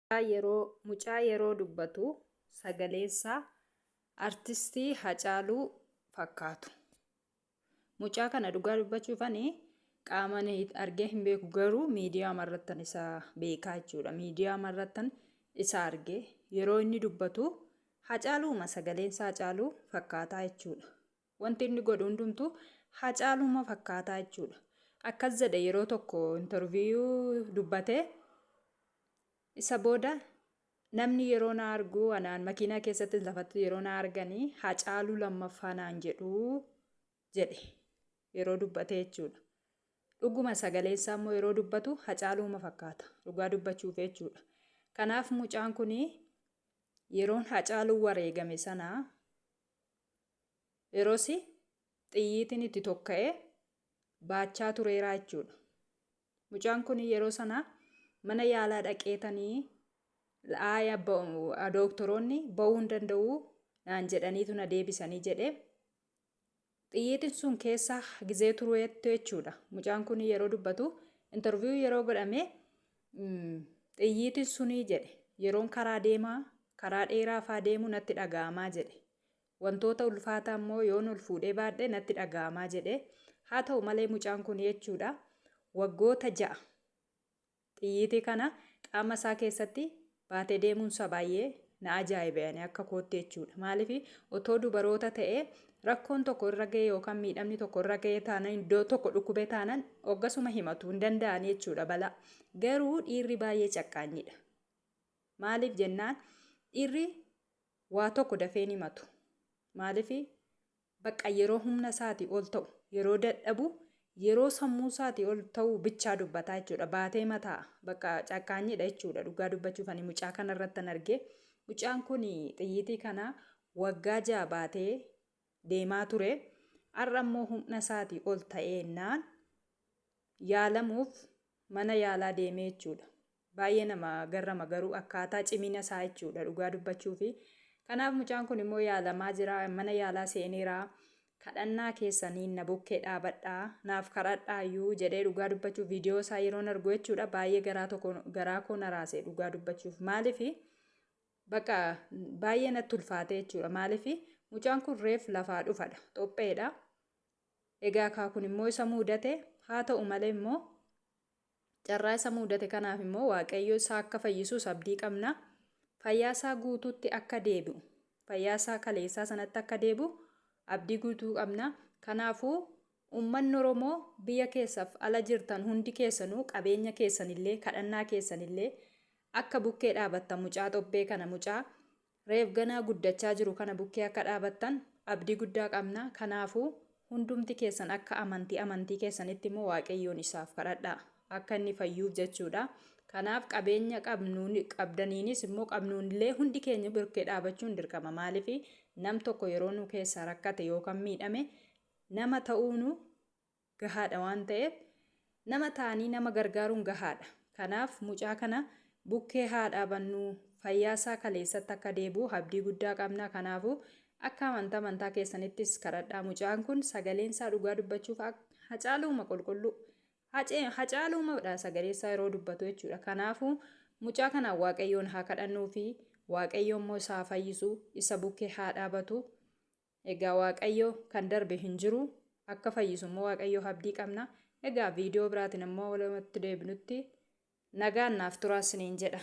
Mucaa yeroo mucaa yeroo dubbatu sagaleessaa artistii Hacaaluu fakkaatu. Mucaa kana dhugaa dubbachuuf ani qaamaan argee hin beeku garuu miidiyaa marrattan isa beekaa jechuudha. Miidiyaa marrattan isa argee yeroo inni dubbatu Hacaaluuma sagaleensaa Hacaaluu fakkaataa jechuudha. Wanti inni godhu hundumtuu Hacaaluuma fakkaataa jechuudha. Akkas jedhe yeroo tokko intarviiyuu dubbate. Isa booda namni yeroo na argu anaan makiinaa keessatti lafatti yeroo na arganii Hacaaluu lammaffaa naan jedhuu jedhe yeroo dubbate jechuudha. Dhuguma sagaleen isaa immoo yeroo dubbatu Hacaaluuma fakkaata dhugaa dubbachuuf jechuudha. Kanaaf mucaan kun yeroon Hacaaluun wareegame sana Erosi xiyyiitiin itti tokka'ee baachaa tureeraa jechuudha. Mucaan kun yeroo sana mana yaalaa dhaqeetanii laaya dooktoroonni ba'uu hin danda'uu naan jedhaniitu na deebisanii jedhe. Xiyyiitiin sun keessa gizee tureettu jechuudha. Mucaan kun yeroo dubbatu intarviiyuu yeroo godhame xiyyiitiin sunii jedhe yeroon karaa deemaa karaa dheeraa faa deemu natti dhaga'amaa jedhe. Wantoota ulfaataa immoo yoon ol fuudhee baadhe natti dhaga'amaa jedhe. Haa ta'u malee mucaan kun jechuudha waggoota ja'a xiyyiitii kana qaama isaa keessatti baatee deemuun isaa baay'ee na ajaa'ibe ani akka kootti jechuudha. Maaliif otoo dubaroota ta'ee rakkoon tokko irra ga'e yookaan miidhamni tokko irra ga'e taanan iddoo tokko dhukkubee taanan oggasuma himatu hin danda'an jechuudha balaa. Garuu dhiirri baay'ee caqqaanyiidha. Maaliif jennaan dhiirri Waa tokko dafee hin himatu. Maaliif? Baqqa yeroo humna isaatii ol ta'u, yeroo dadhabu, yeroo sammuu isaatii ol ta'u bichaa dubbataa jechuudha. Baatee mataa baqqa cakkaanyiidha jechuudha. Dhugaa dubbachuuf ani mucaa kana irrattan argee. Mucaan kun xiyyiitii kana waggaa ja'a baatee deemaa ture. Har'a immoo humna isaatii ol ta'eennaan yaalamuuf mana yaalaa deemee jechuudha. Baay'ee nama garrama garuu akkaataa cimina isaa jechuudha dhugaa dubbachuufi. Kanaaf mucaan kun immoo yaalamaa jira mana yaalaa seeneera kadhannaa keessaniin na bukkee dhaabadhaa naaf kadhadhaayyuu jedhee dhugaa dubbachuuf viidiyoo isaa yeroon argu jechuudha baay'ee garaa tokko garaa koo na raase dhugaa dubbachuuf maaliif bakka baay'ee natti ulfaate jechuudha maaliif mucaan kun reef lafaa dhufadha xopheedha egaa kaa kun immoo isa muudate haa ta'u malee immoo Carraa isa muudate kanaaf immoo Waaqayyo isaa akka fayyisuus abdii qabna. Fayyaa isaa guutuutti akka deebi'u, fayyaa isaa kaleessaa sanatti akka deebi'u abdii guutuu qabna. Kanaafuu uummanni Oromoo biyya keessaaf ala jirtan hundi keessanuu qabeenya keessanillee kadhannaa keessanillee akka bukkee dhaabattan mucaa xobbee kana mucaa Reef ganaa guddachaa jiru kana bukkee akka dhaabattan abdii guddaa qabna kanaafuu hundumti keessan akka amanti amantii keessanitti immoo waaqayyoon isaaf kadhadhaa akka inni fayyuuf jechuudha kanaaf qabeenya qabnuun qabdaniinis immoo qabnuun illee hundi keenya birkee dhaabachuun dirqama maaliif nam tokko yeroo nu keessaa rakkate yookaan miidhame nama ta'uunu gahaadha waan ta'eef nama taanii nama gargaaruun gahaadha. Kanaaf mucaa kana bukkee haadhaabannu fayyaasaa kaleessatti akka deebi'u abdii guddaa qabna. Kanaafuu akka amantaa amantaa keessanittis kadhadhaa mucaan kun sagaleensaa dhugaa dubbachuuf hacaaluuma qulqulluu hacaaluumadha sagaleessaa yeroo dubbatu jechuudha. Kanaafuu mucaa kanaan waaqayyoon haa kadhannuufi waaqayyoommoo isaa fayyisu isa bukkee haa dhaabatu. Egaa waaqayyo kan darbe hin jiru akka fayyisu immoo waaqayyo abdii qabna egaa viidiyoo biraatiin immoo walumatti deebinutti nagaan naaf turaa isiniin jedha.